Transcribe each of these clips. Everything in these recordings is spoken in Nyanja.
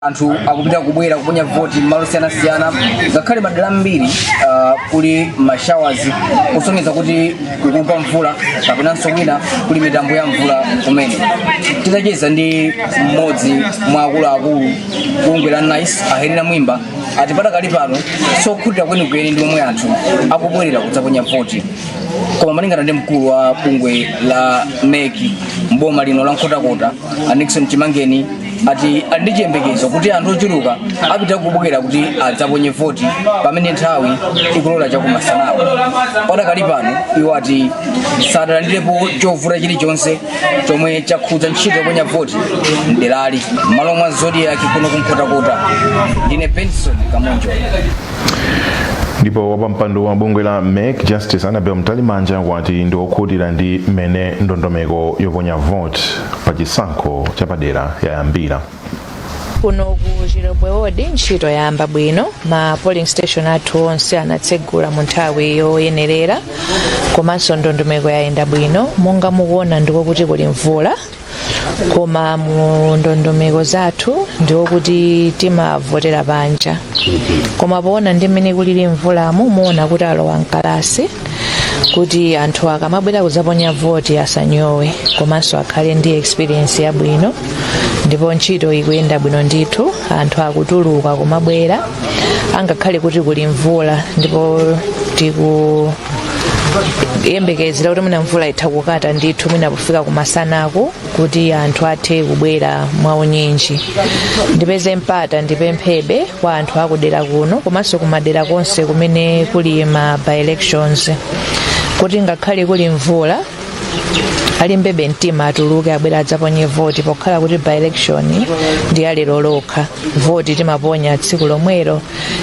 anthu akupitabe kubwera kuponya voti m'malo osiyanasiyana ngakhale madera ambiri uh, kuli mashawazi kusonyeza kuti kukugwa mvula kapenanso kwina kuli mitambo ya mvula kumene titacheza ndi mmodzi mwa akuluakulu a bungwe la nice ahenera mwimba ati padakali pano sokhutira kwenikweni ndi momwe anthu akubwerera kudzaponya voti koma malingana ndi mkulu wa bungwe la mec mboma lino la nkhotakota a nixon chimangeni ati ali ndi chiyembekezo kuti anthu ochuluka apitabe kubwera kuti adzaponye voti pamene nthawi ikulola chakumasanawo padakali pano iwo ati sadalandirepo chovuta chilichonse chomwe chakhudza ntchito yoponya voti mderali m'malo mwa zodiaki kuno ku nkhotakota ndine benson kamonjo ndipo wapampando wa bungwe la mec justice annabel mtalimanja wati ndi okhutira ndi mmene ndondomeko yoponya vote pa chisankho chapadera yayambira kuno ku chilobwe wodi ntchito yayamba bwino ma polling station athu onse anatsegula mu nthawi yoyenerera komanso ndondomeko yayenda bwino monga mukuona ndi kwakuti kuli mvula koma mu ndondomeko zathu ndi wokuti timavotera panja koma poona ndi mmene kulili mvulamu muona kuti alowa mkalasi kuti anthu akamabwera kudzaponya voti asanyowe komanso akhale ndi experience yabwino ndipo ntchito ikuyenda bwino ndithu anthu akutuluka kumabwera angakhale kuti kuli mvula ndipo tiku yembekezera kuti mwina mvula itha kukata ndithu mwina pofika kumasanaku kuti anthu athe kubwera mwaunyinji ndipeze mpata ndipemphebe kwa anthu akudera kuno komanso kumadera konse kumene kuli ma by elections kuti ngakhale kuli mvula alimbebe mtima atuluke abwere adzaponye voti pokhala kuti by election ndi alero lokha voti timaponya tsiku lomwero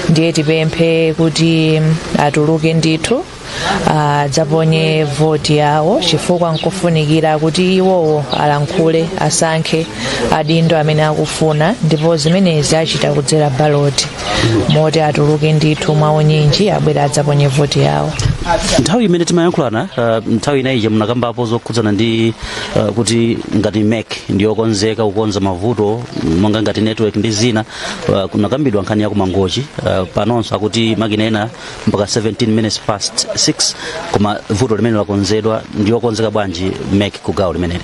ndiye tipemphe kuti atuluke ndithu adzaponye voti yawo chifukwa nkufunikira kuti iwowo alankhule asankhe adindo amene akufuna ndipo zimenezi achita kudzera baloti moti atuluke ndithu mwaunyinji abwere adzaponye voti yawo nthawi imene timayankhulana uh, nthawi ina ija munakambapo zokhudzana ndi uh, kuti ngati mec ndiyokonzeka kukonza mavuto monga ngati network ndi zina uh, kunakambidwa nkhani ya ku mangochi uh, panonso akuti makina ena mpaka 17 minutes past 6 koma vuto limeneli lakonzedwa ndiyokonzeka bwanji mec ku gawo limeneli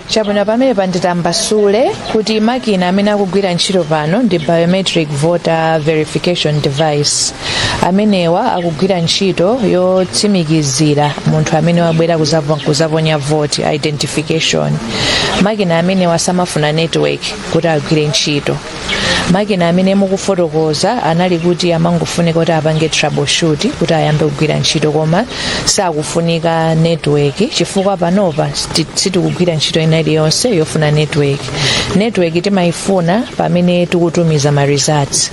chabwino pamenepa nditambasule kuti makina amene akugwira ntchito pano ndi biometric voter verification device amenewa akugwira ntchito yotsimikizira munthu amene wabwera kuzaponya voti identification makina amenewa samafuna network kuti agwire ntchito makina amene mukufotokoza anali kuti amangofunika kuti apange troubleshoot kuti ayambe kugwira ntchito koma sakufunika network chifukwa panopa sti- sitikugwira ntchito ina iliyonse yofuna network network timayifuna pamene tikutumiza ma results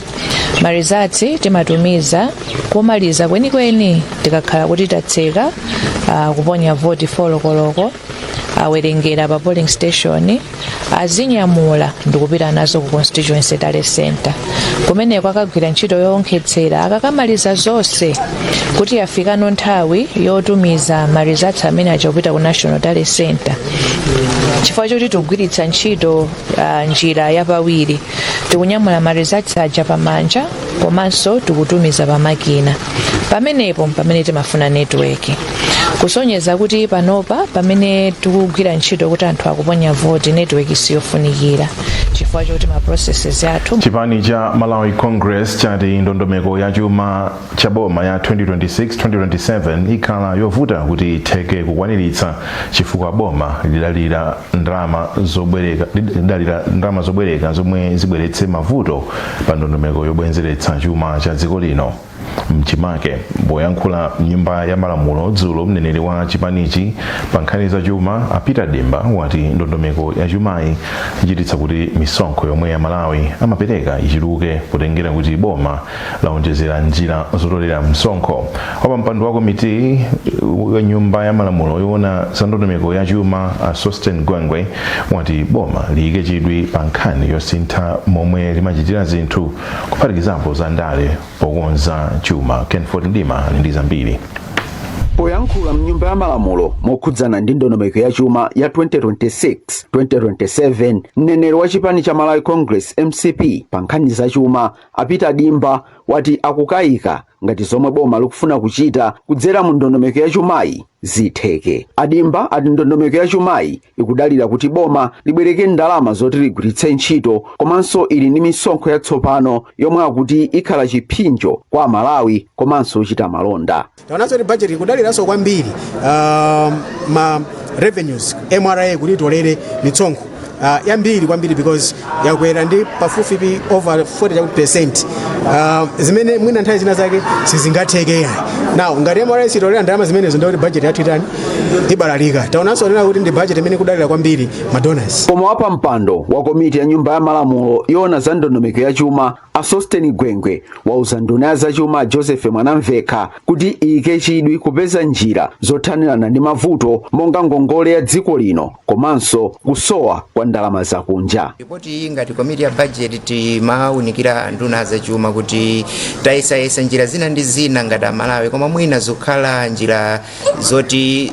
ma results timatumiza komaliza kwenikweni tikakhala kuti tatseka ah, kuponya voti folokoloko awerengera pa polling station azinyamula ndikupita nazo ku constituency tally center kumeneko akagwira ntchito yowonkhetsera akakamaliza zonse kuti yafikano nthawi yotumiza marizatsi amene aja kupita ku national tally center chifukwa choti tikugwiritsa ntchito uh, njira yapawiri tikunyamula marizatsi aja pamanja komanso tikutumiza pa makina pamenepo mpamene timafuna netiweki kusonyeza kuti panopa pamene tikugwira ntchito kuti anthu akuponya voti netiweki siyofunikira chifukwa choti ma processes athu chipani cha malawi congress chati ndondomeko ya chuma cha boma ya 2026-2027 ikhala yovuta kuti itheke kukwaniritsa chifukwa boma lidalira ndalama zobwereka zomwe zibweretse mavuto pa ndondomeko yobwezeretsa chuma cha dziko lino mchimake poyankhula mnyumba ya malamulo dzulo mneneri wa chipanichi pa nkhani za chuma a peter dimba wati ndondomeko ya chumayi ichititsa kuti misonkho yomwe amalawi amapereka ichuluke potengera kuti boma laonjezera njira zotolera msonkho wapampando wa komiti ya nyumba ya malamulo yoona za ndondomeko ya chuma a sosten gwengwe wati boma liyike chidwi pa nkhani yosintha momwe limachitira zinthu kuphatikizapo za ndale pokonza chuma kenford mdima ali ndi zambiri poyankhula mnyumba ya malamulo mokhudzana ndi ndondomeko ya chuma ya 2026 2027 mneneri wa chipani cha malawi congress mcp pa nkhani za chuma a peter dimba wati akukayika ngati zomwe boma likufuna kuchita kudzera mu ndondomeko ya chumayi zitheke a dimba ati ndondomeko ya chumayi ikudalira kuti boma libwereke ndalama zoti ligwiritse ntchito komanso ili ndi misonkho yatsopano yomwe akuti ikhala chiphinjo kwa amalawi komanso ochita malonda taonanso kuti budget ikudaliranso kwambiri uh, ma revenues mra kuti itolere mitsonkho uh, yambiri kwambiri because yakwera ndi pafupifupi over 40 chakuti percent uh, zimene mwina nthawi zina zake sizingatheke yayi now ngati mra sitolera ndalama zimenezo ndikuti budget yathu itani ibalalika taonanso onena kuti ndi budget imene ikudalira kwambiri madonors Koma wapampando wa komiti ya nyumba ya malamulo yoona za ndondomeko ya chuma A Sosten Gwengwe wauza nduna ya zachuma a Joseph Mwanamvekha kuti iyike chidwi kupeza njira zothanirana ndi mavuto monga ngongole ya dziko lino komanso kusowa kwa ndalama zakunja. ripoti iyi ngati komiti ya bajeti timawunikira nduna ya zachuma kuti tayesayesa njira zina ndi zina ngati amalawi koma mwina zokhala njira zoti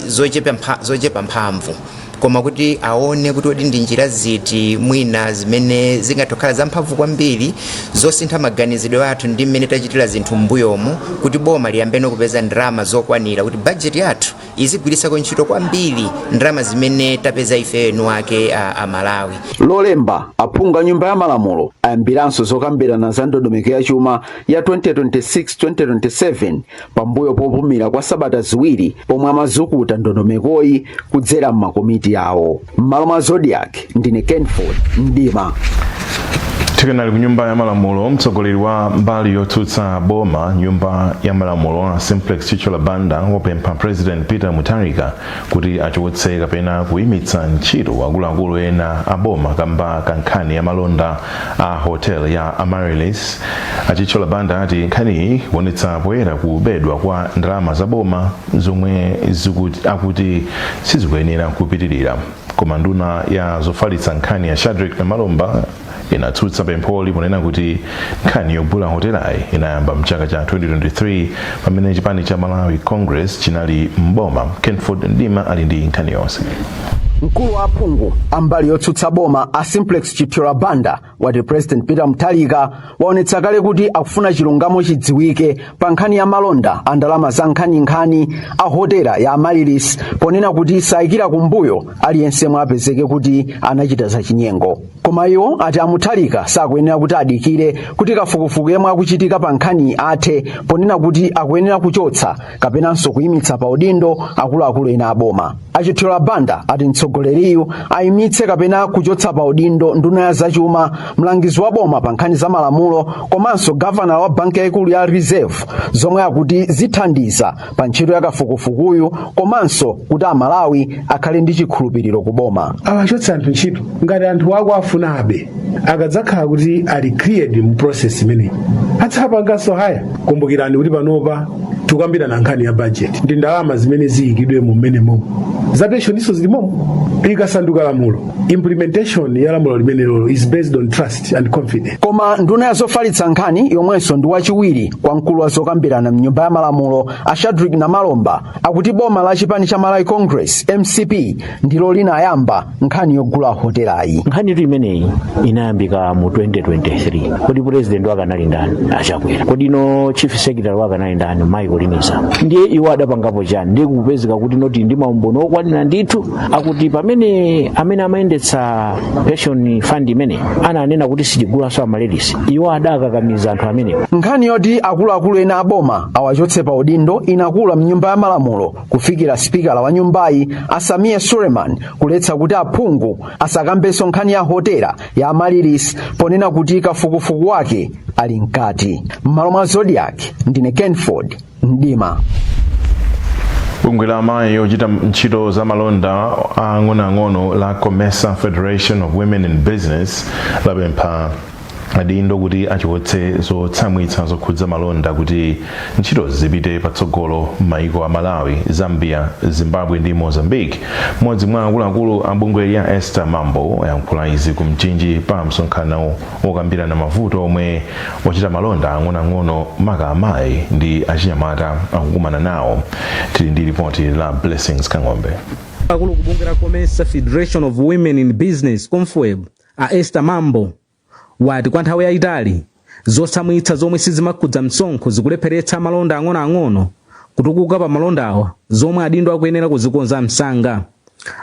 zochepa mphamvu koma kuti aone kuti kodi ndi njira ziti mwina zimene zingathe kukhala zamphamvu kwambiri zosintha maganizidwe athu ndi mmene tachitira zinthu m'mbuyomu kuti boma liyambeno kupeza ndalama zokwanira kuti bajeti yathu izigwiritsako ntchito kwambiri ndalama zimene tapeza ife eni ake amalawi lolemba aphungu a nyumba ya malamulo ayambiranso zokambirana za ndondomeko ya chuma ya 2026-2027 pambuyo popumira kwa sabata ziwiri pomwe amazukuta ndondomekoyi kudzera m'makomiti awo m'malo mwa zodiak ndine kenford mdima tikanali ku nyumba ya malamulo mtsogoleri wa mbali yotsutsa boma m'nyumba ya malamulo a simplex chithyola banda wapempha president peter mutharika kuti achotse kapena kuimitsa ntchito akuluakulu ena a boma kamba ka nkhani ya malonda a hotel ya Amaryllis. A Chithyola Banda ati nkhaniyi ikuonetsa poyera kubedwa kwa ndalama za boma zomwe akuti sizikuyenera kupitirira. Koma nduna ya zofalitsa nkhani a Shadric Namalomba inatsutsa pempholi ponena kuti nkhani yogula hotelayi inayamba mchaka cha 2023 pamene chipani cha malawi congress chinali m'boma kenford mdima ali ndi nkhani yonse mkulu wa aphungu ambali yotsutsa boma a simplex chithyola banda wati president peter mutharika waonetsa kale kuti akufuna chilungamo chidziwike pa nkhani ya malonda a ndalama zankhaninkhani a hotela ya amaryllis ponena kuti sayikira kumbuyo aliyense yemwe apezeke kuti anachita zachinyengo koma iwo ati a mutharika sakuyenera kuti adikire kuti kafukufuku yemwe akuchitika pa nkhaniyi athe ponena kuti akuyenera kuchotsa kapenanso kuyimitsa pa udindo akuluakulu ena aboma a chithyola banda ati mtsogoleriyu ayimitse kapena kuchotsa pa udindo nduna ya zachuma mlangizi wa boma pa nkhani za malamulo komanso gavanala wa banki yayikulu ya reserve zomwe akuti zithandiza pa ntchito ya kafukufukuyu komanso kuti amalawi akhale ndi chikhulupiriro ku boma awachotse anthu ntchito ngati anthuwo akuwafunabe akadzakhala kuti ali cleared mu process imeneyi adzapanganso hire kumbukirani kuti panopa tikukambirana nkhani ya budget ndi ndalama zimene ziyikidwe mu mmenemomo za pensioninso zili momo ikasanduka lamulo implementation ya lamulo limenelolo is based on trust confidence and confidence. koma nduna ya zofalitsa nkhani yomwenso ndi wachiwiri kwa mkulu wa zokambirana mnyumba ya malamulo a shadrick namalomba akuti boma la chipani cha malawi congress mcp ndilo lidayamba nkhani yogula hotelayi nkhanitu imeneyi inayambika mu 2023 kodi purezidenti wake anali ndani a chakwera kodi nanga chief secretary wake anali ndani mayi kolini zamba ndiye iwo adapangapo chani ndiye kupezeka kuti noti ndi maumboni okwanira ndithu akuti pamene amene amayendetsa pension fund imene ananena kuti sitigulaso amaryllis iwo adakakamiza anthu amenewo nkhani yoti akuluakulu ena aboma awachotse pa udindo inakula mnyumba ya malamulo kufikira sipikala wa nyumbayi a sameer suleman kuletsa kuti aphungu asakambenso nkhani ya hotela ya amaryllis ponena kuti kafukufuku wake ali mkati m'malo mwa zodiak ndine kenford mdima bungwe la amayi ochita ntchito za malonda ang'onoang'ono la comesa federation of women in business lapempha adindo kuti achotse zotsamwitsa zokhudza malonda kuti ntchito zipite patsogolo m'mayiko a malawi zambia zimbabwe ndi mozambique mmodzi mwa akuluakulu a bungweli a esther mambo ayankhula izi ku mchinji pa msonkhano okambirana mavuto omwe ochita malonda ang'onoang'ono maka amayi ndi achinyamata akukumana nawo tili ndi lipoti la blessings kang'ombe mkulu wa bungwe la comesa federation of women in business comfweb a esther mambo wati kwa nthawi yayitali zotsamwitsa zomwe sizimakhudza msonkho zikulepheretsa amalonda ang'onoang'ono kutukuka pa malondawa zomwe adindo akuyenera kuzikonza msanga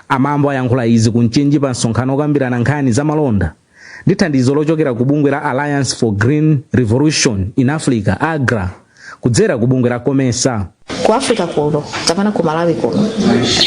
a mambo ayankhula izi ku mchinji pa msonkhano okambirana nkhani za malonda ndi thandizo lochokera ku bungwe la alliance for green revolution in africa agra kudzera ku bungwe la comesa ku africa kuno kapena ku malawi kuno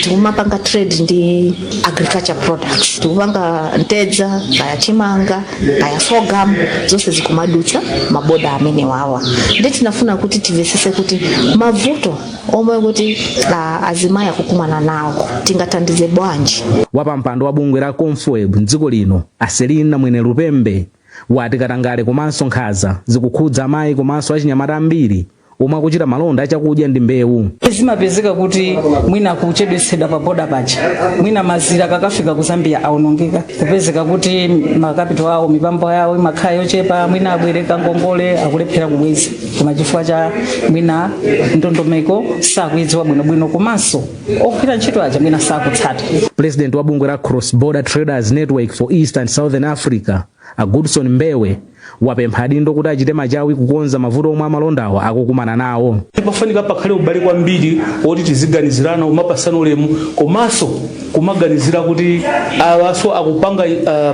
tikumapanga trade ndi agriculture products tikupanga mtedza kaya chimanga kaya sorghum zonse zikumadutsa maboda amenewawa ndiye tinafuna kuti tivesese kuti mavuto omwe kuti ah, azimayi akukumana nawo tingathandize bwanji wapampando wa bungwe la comfweb mdziko lino a selina mwenelupembe wati katangale komanso nkhaza zikukhudza amayi komanso achinyamata ambiri omwe akuchita malonda achakudya ndi mbewu zimapezeka kuti mwina kuchedwetsedwa pa boda paja mwina mazira akakafika ku zambia aonongeka kupezeka kuti makapitolo awo mipamba yawo imakhala yochepa mwina abwereka ngongole akulephera kubweza koma chifukwa cha mwina ndondomeko sakuidziwa bwinobwino komanso ogwira ntchito aja mwina sakutsata president wa bungwe la cross border traders network for east and southern africa a goodson mbewe wapempha adindo kuti achite machawi kukonza mavuto omwe amalondawa akukumana nawo pafunika pakhale ubale kwambiri woti tiziganizirana kumapatsana ulemu komanso kumaganizira kuti awanso akupanga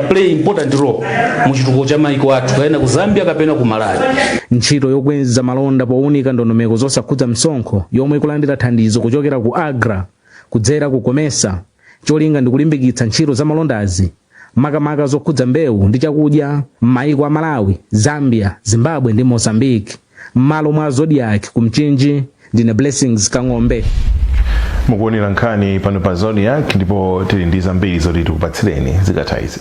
play important role mu chitukuko cha maiko athu kapena ku zambia kapena ku malawi ntchito yokweza malonda powunika ndondomeko zosakhudza msonkho yomwe ikulandira thandizo kuchokera ku agra kudzera ku comesa cholinga ndi kulimbikitsa ntchito za malondazi makamaka zokhudza mbewu ndi chakudya m'mayiko a malawi zambia zimbabwe ndi mozambique m'malo mwa zodiac ku mchinji ndine blessings kang'ombe mukuonera nkhani pano pa zodiac ndipo tili ndi zambiri zoti tikupatsireni zikatha izi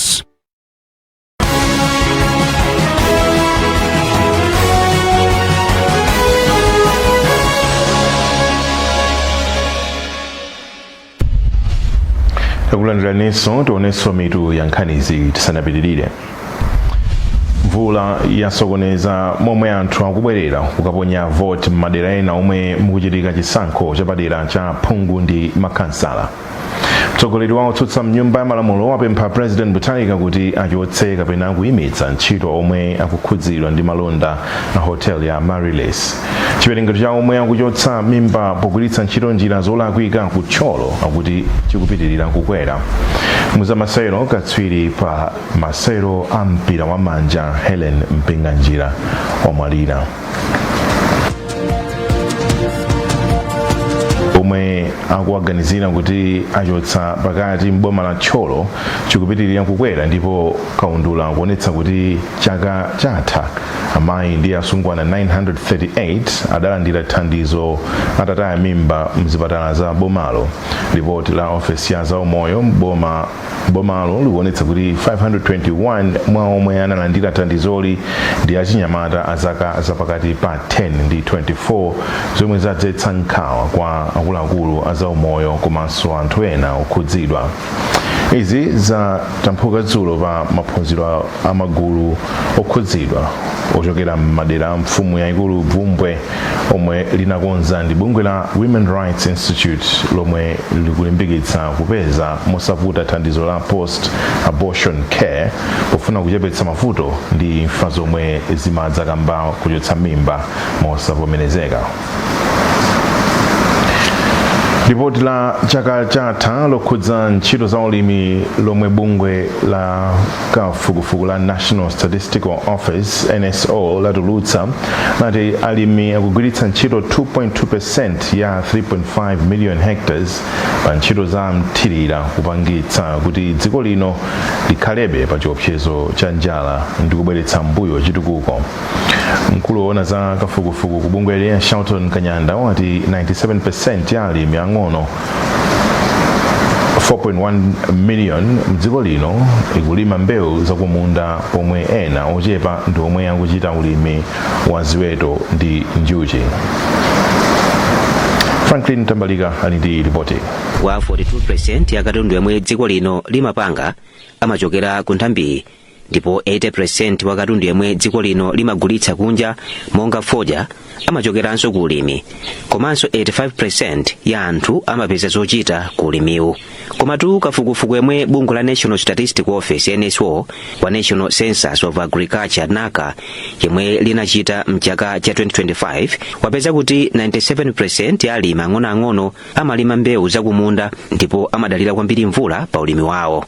Sports. takulandiraninso tionenso mitu ya nkhanizi tisanapitirire mvula yasokoneza momwe anthu akubwerera kukaponya voti m'madera ena omwe mukuchitika chisankho chapadera cha phungu ndi makhansala mtsogoleri wa otsutsa mnyumba ya malamulo wapempha president mutharika kuti achotse kapena kuyimitsa ntchito omwe akukhudzidwa ndi malonda a hotel ya amaryllis chiwerengero cha omwe akuchotsa mimba pogwiritsa ntchito njira zolakwika ku thyolo akuti chikupitirira kukwera mu zamasewero katswiri pa masewero a mpira wa manja helen mpinganjira wamwalira omwe akuwaganizira kuti achotsa pakati m'boma la thyolo chikupitirira kukwera ndipo kaundula akuonetsa kuti chaka chatha amayi ndi asungwana 938 adalandira thandizo atataya mimba mzipatala za bomalo lipoti la ofesi ya zaumoyo m'boma Bomalo likuonetsa kuti 521 mwa omwe analandira thandizoli ndi achinyamata a zaka zapakati pa 10 ndi 24 zomwe zadzetsa nkhawa kwa akuluakulu a zaumoyo komanso anthu ena okhudzidwa. Izi zatamphuka dzulo pa maphunziro a magulu okhudzidwa ochokera m'madera a mfumu yaikulu Bvumbwe omwe linakonza ndi bungwe la Women Rights Institute lomwe likulimbikitsa kupeza mosavuta thandizo la post abortion care pofuna kuchepetsa mavuto ndi imfa zomwe zimadza kamba kochotsa mimba mosavomerezeka lipoti la chaka chatha lokhudza ntchito za ulimi lomwe bungwe la Kafukufuku la National Statistical Office, NSO, latulutsa nati alimi akugwiritsa ntchito 2.2% ya 3.5 million hectares pa ntchito za mthirira kupangitsa kuti dziko lino likhalebe pa chiopsezo cha njala ndi kubweretsa m'mbuyo chitukuko. Mkulu woona za kafukufuku ku bungweli a Shelton Kanyanda wati 97% ya alimi ang'ono 4.1 million mdziko lino ikulima mbewu zakumunda pomwe ena ochepa ndi omwe akuchita ulimi wa ziweto ndi njuchi franklin mtambalika ali ndi ripoti 42% ya katundu yemwe dziko lino limapanga amachokera ku nthambi ndipo 80% wa katundu yemwe dziko lino limagulitsa kunja monga fodya amachokeranso ku ulimi komanso 85% ya anthu amapeza zochita ku ulimiwu komatu kafukufuku yemwe bungwe la national statistic office nso wa national census of agriculture naca yemwe linachita mchaka cha 2025 wapeza kuti 97% ya alimi ang'onoang'ono amalima mbewu zakumunda ndipo amadalira kwambiri mvula pa ulimi wawo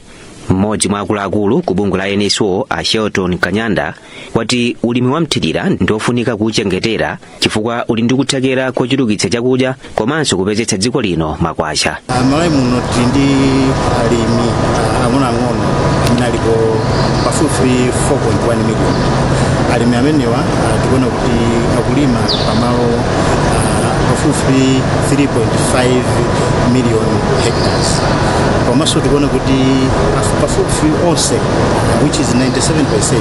mmodzi mwa akuluakulu ku bungwe la nso a shelton kanyanda wati ulimi wa mthirira ndi ofunika kuwuchengetera chifukwa uli ndi kuthekera kochulukitsa chakudya komanso kupezetsa dziko lino makwacha malawi muno tili ndi alimi ang'onoang'ono amene alipo pafupi 4.1 million alimi amenewa ah, tikuona kuti akulima pamalo ah, pafupi 3.5 million hectares komanso tikuona kuti pafu- pafupifupi onse which is 97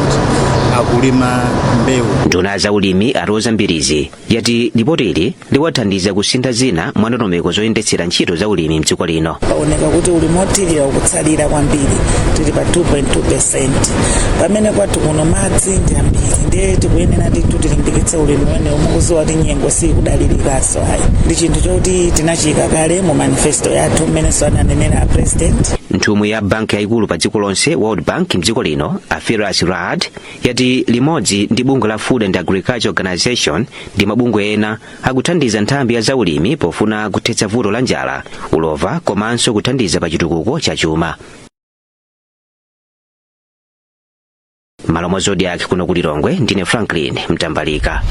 akulima mbewu nduna ya zaulimi a roza mbilizi yati lipotili liwathandiza kusintha zina mwa ndondomeko zoyendetsera ntchito za ulimi mdziko lino paoneka kuti ulimi wothirira ukutsalira kwambiri tili pa 2.2 percent pamene kwathu kuno madzi ndi ambiri ndiye tikuyenera ndithu tilimbikitse ulimi umenewu mukuziwa kuti nyengo sikudalirikaso ndi chinthu choti tinachiyika kale mu manifesto yathu mmenenso ananenera a president nthumwi ya banki yayikulu pa dziko lonse world bank mdziko lino a firas raad yati limodzi ndi bungwe la food and agriculture organization ndi mabungwe ena akuthandiza nthambi ya zaulimi pofuna kuthetsa vuto la njala ulova komanso kuthandiza pa chitukuko cha chuma m'malo mwa zodiak kuno ku lilongwe ndine franklin mtambalika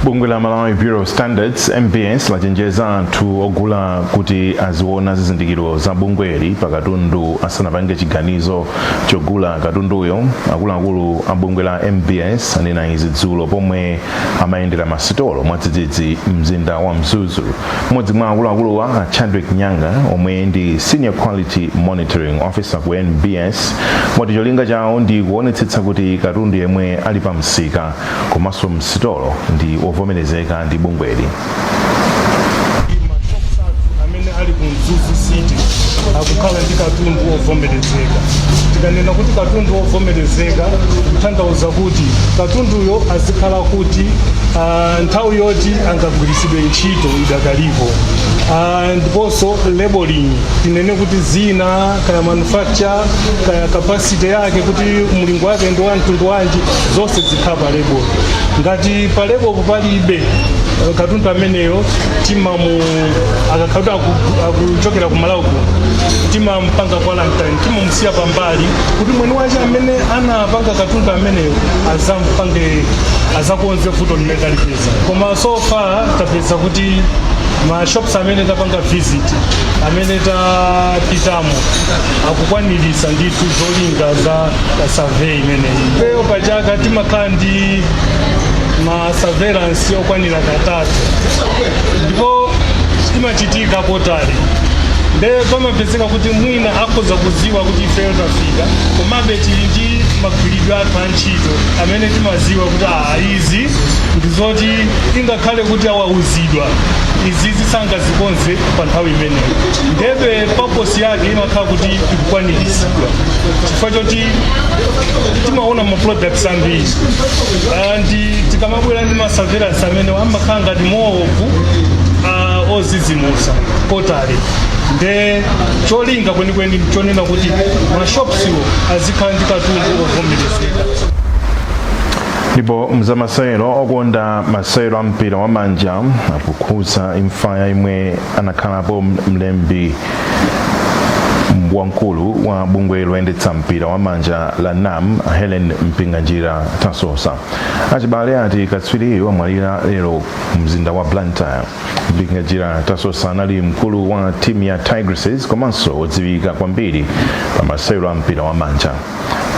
bungwe la malawi bureau of standards mbs lachenjeza anthu ogula kuti aziona zizindikiro za bungweli pa katundu asanapange chiganizo chogula katunduyo akuluakulu a bungwe la mbs anena izi dzulo pomwe amayendera masitolo mwadzidzidzi mzinda wa mzuzu mmodzi mwa akuluakuluwa a chadrick nyanga omwe ndi senior quality monitoring officer ku mbs wati cholinga chawo ndi kuonetsetsa kuti katundu yemwe ali pa msika komanso msitolo ndi wovomerezeka ndi bungweli amene ali ku mzuzu city akukhala ndi katundu wovomerezeka tikanena kuti katundu wovomerezeka kutanthauza kuti katunduyo azikhala kuti ah, nthawi yoti angagwiritsidwe ntchito idakalipo Ah, ndiponso labeling tinene kuti zina kaya manufacturer kaya capacity yake kuti mlingo wake ndi wa mtundu wanji zonse zikhala pa label ngati pa label palibe katundu ameneyo timamu akakhala kuti aku- akuchokera ku malawi kuno timampanga quarantine timamusiya pambali kuti mwini wace amene anapanga katundu ameneyo azampange azakonze vuto limene talipeza koma so far tapeza kuti ma shops amene tapanga visit amene tapitamo akukwanirisa ndithu zolinga za survey imeneyi ifeyo pachaka timakhala ndi ma surveillance okwanira katatu ndipo imachitika quarterly nde pamapezeka kuti mwina akhoza kuziwa kuti ifeyo tafika komabe tili ndi magwiridwe athu a ntchito amene timaziwa kuti aa izi ndi zoti ingakhale kuti awauzidwa izizi sangazikonze pa nthawi imeneyo ndebe purpose yake imakhala kuti ikukwaniritsidwa chifukwa choti timaona ma product ambiri Ah, and tikamabwera ndi ma surveillance amene amakhala ngati more of ah, ozizimusa quarterly nde cholinga kwenikweni chonena kuti ma shops wo azikhala ndi katundu ovomerezeka ndipo mzamasewero okonda masewero a mpira wa manja akukhudza imfa ya yemwe anakhalapo mlembi wamkulu wa bungwe loyendetsa mpira wa manja la nam helen mpinganjira tasosa achibale ati katswiriyo amwalira lero mzinda wa blantyre mpinganjira tasosa anali mkulu wa timu ya tigresses komanso odziwika kwambiri pa masewero a mpira wa manja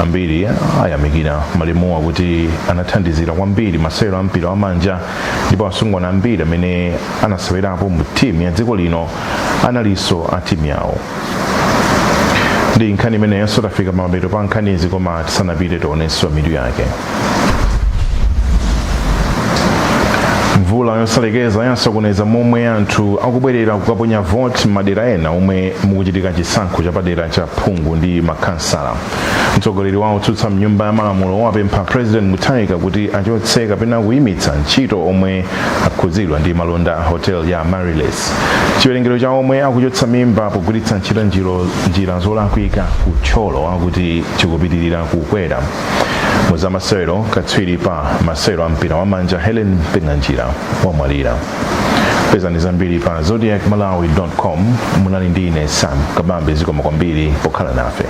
ambiri ayamikira malemuwa kuti anathandizira kwambiri masewero a mpira wa manja ndipo asungwana ambiri amene anasewerapo mu timu ya dziko lino analinso a timu yawo ndi nkhani imeneyonso tafika pamapeto pa nkhanizi koma tisanapite tionenso mitu yake mvula yosalekeza yasokoneza momwe anthu akubwerera kukaponya voti m'madera ena omwe mukuchitika chisankho chapadera cha phungu ndi makhansala mtsogoleri wa otsutsa mnyumba ya malamulo wapempha president mutharika kuti achotse kapena kuyimitsa ntchito omwe akhudzidwa ndi malonda a hotel ya Amaryllis. Chiwerengero cha omwe akuchotsa mimba pogwiritsa ntchito njiro- njira zolakwika ku Thyolo akuti chikupitirira kukwera. Mu za masewero, katswiri pa masewero a mpira wa manja Helen Mpinganjira wamwalira. Pezani zambiri pa zodiakmalawi.com. Munali ndi ine Sam Kabambe zikomo kwambiri pokhala nafe.